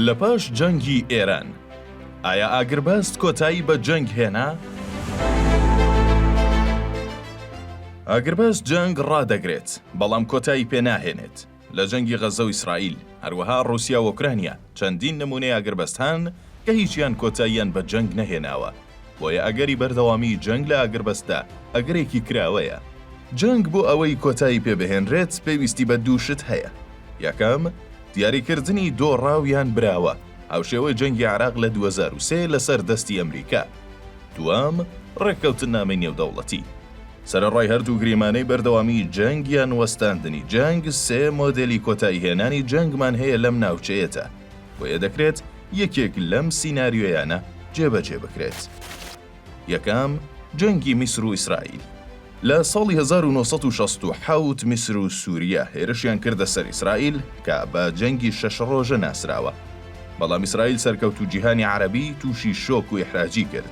لەپاش جەنگی ئێران، ئایا ئاگربەست کۆتایی بە جەنگ هێنا؟ ئاگربەست جەنگ ڕادەگرێت، بەڵام کۆتایی پێناهێنێت. لە جەنگی غەززە و ئیسرائیل، هەروەها ڕووسیا و ئۆکرانیا، چەندین نمونەی ئاگربەست هەن کە هیچیان کۆتاییان بە جەنگ نەهێناوە، بۆیە ئەگەری بەردەوامیی جەنگ لە ئاگربەستدا ئەگەرێکی کراوەیە. جەنگ بۆ ئەوەی کۆتایی پێ بهێنرێت پێویستی بە دوو شت هەیە، یەکەم، دیاریکردنی دۆڕاو یان براوە، هاوشێوەی جەنگی عێراق لە دوو هەزار و سێ لەسەر دەستی ئەمریکا. دووەم، ڕێککەوتننامەی نێودەوڵەتی. سەرەڕای هەردوو گریمانەی بەردەوامی جەنگ یان وەستاندنی جەنگ، سێ مۆدێلی کۆتاییهێنانی جەنگمان هەیە لەم ناوچەیەدا، بۆیە دەکرێت یەکێک لەم سیناریۆیانە جێبەجێ بکرێت. یەکەم، جەنگی میسر و ئیسرائیل. لە ساڵی هەزار و نۆ سەد و شەست و حەوت میسر و سووریا هێرشیان کردە سەر ئیسرائیل کە بە جەنگی شەش ڕۆژە ناسراوە. بەڵام ئیسرائیل سەرکەوت و جیهانی عەرەبی تووشی شۆک و ئیحراجی کرد.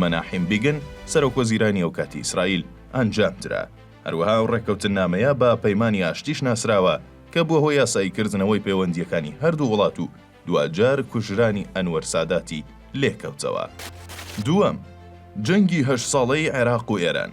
مەناحیم بیگن، سەرۆکوەزیرانی ئەوکاتی ئیسرائیل ئەنجامدرا. هەروەها ئەو ڕێککەوتننامەیە بە پەیمانی ئاشتیش ناسراوە کە بووە هۆی یاساییکردنەوەی پەیوەندییەکانی هەردوو وڵات و دواجار کوژرانی ئەنوەر ساداتی لێکەوتەوە. دووەم، جەنگی هەشت ساڵەی عێراق و ئێران.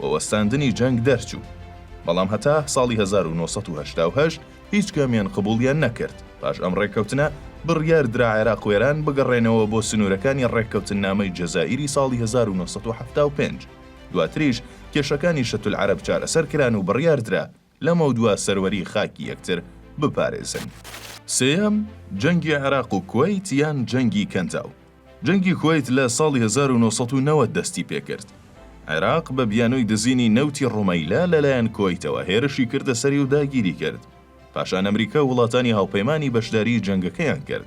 و وەستاندنی جەنگ دەرچوو. بەڵام هەتا ساڵی هەزار و نۆ سەد و هەشتا و هەشت هیچ کامیان قبوڵیان نەکرد، پاش ئەم ڕێککەوتنە بڕیار درا عێراق و ئێران بگەڕێنەوە بۆ سنوورەکانی ڕێککەوتننامەی جەزائیری ساڵی هەزار و نۆ سەد و حەفتا و پێنج، دواتریش کێشەکانی شەتولعەرەب چارەسەر کران و بڕیار درا لەمەودوا سەروەری خاکی یەکتر بپارێزن. سێیەم، جەنگی عێراق و کوەیت یان جەنگی کەنداو. جەنگی کوەیت لە ساڵی هەزار و نۆ سەد و نەوەد دەستی پێکرد. عێراق بە بیانووی دزینی نەوتی ڕومەیلە لەلایەن کوەیتەوە هێرشی کردە سەری و داگیری کرد. پاشان ئەمریکا و وڵاتانی هاوپەیمانی بەشداریی جەنگەکەیان کرد.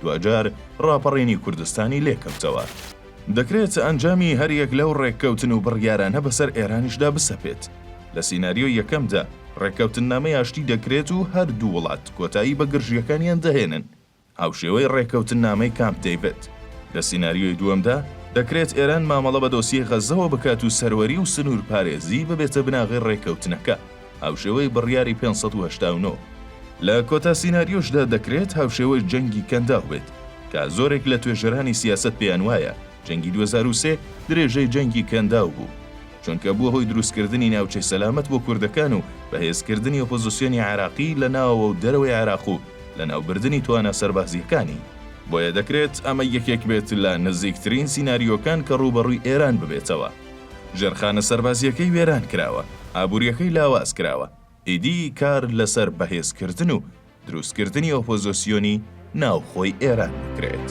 دواجار ڕاپەڕینی کوردستانی لێ کەوتەوە. دەکرێت ئەنجامی هەر یەک لەو ڕێککەوتن و بڕیارانە بەسەر ئێرانیشدا بسەپێت. لە سیناریۆی یەکەمدا، ڕێککەوتننامەی ئاشتی دەکرێت و هەر دوو وڵات کۆتایی بە گرژییەکانیان دەهێنن، هاوشێوەی ڕێککەوتننامەی کامپ دەیڤد. لە سیناریۆی دووەمدا، دەکرێت ئێران مامەڵە بە دۆسیەی غەززەوە بکات و سەروەری و سنوورپارێزی ببێتە بناغەی ڕێککەوتنەکە. هاوشێوەی بڕیاری پێنج سەد و هەشتا و نۆ. لە کۆتا سیناریۆشدا دەکرێت هاوشێوەی جەنگی کەنداو بێت، کە زۆرێک لە توێژەرانی سیاسەت پێیان وایە جەنگی دوو هەزار و سێ درێژەی جەنگی کەنداو بوو، چونکە بووە هۆی دروستکردنی ناوچەی سەلامەت بۆ کوردەکان و بەهێزکردنی ئۆپۆزسیۆنی عێراقی لە ناوەوە و دەرەوەی عێراق و لەناوبردنی توانا سەربازییەکانی. بۆیە دەکرێت ئەمە یەکێک بێت لە نزیکترین سیناریۆکان کە ڕووبەڕووی ئێران ببێتەوە. ژێرخانە سەربازییەکەی وێران کراوە، ئابوورییەکەی لاواز کراوە، ئیدی کار لەسەر بەهێزکردن و دروستکردنی ئۆپۆزۆسیۆنی ناوخۆی ئێران بکرێت.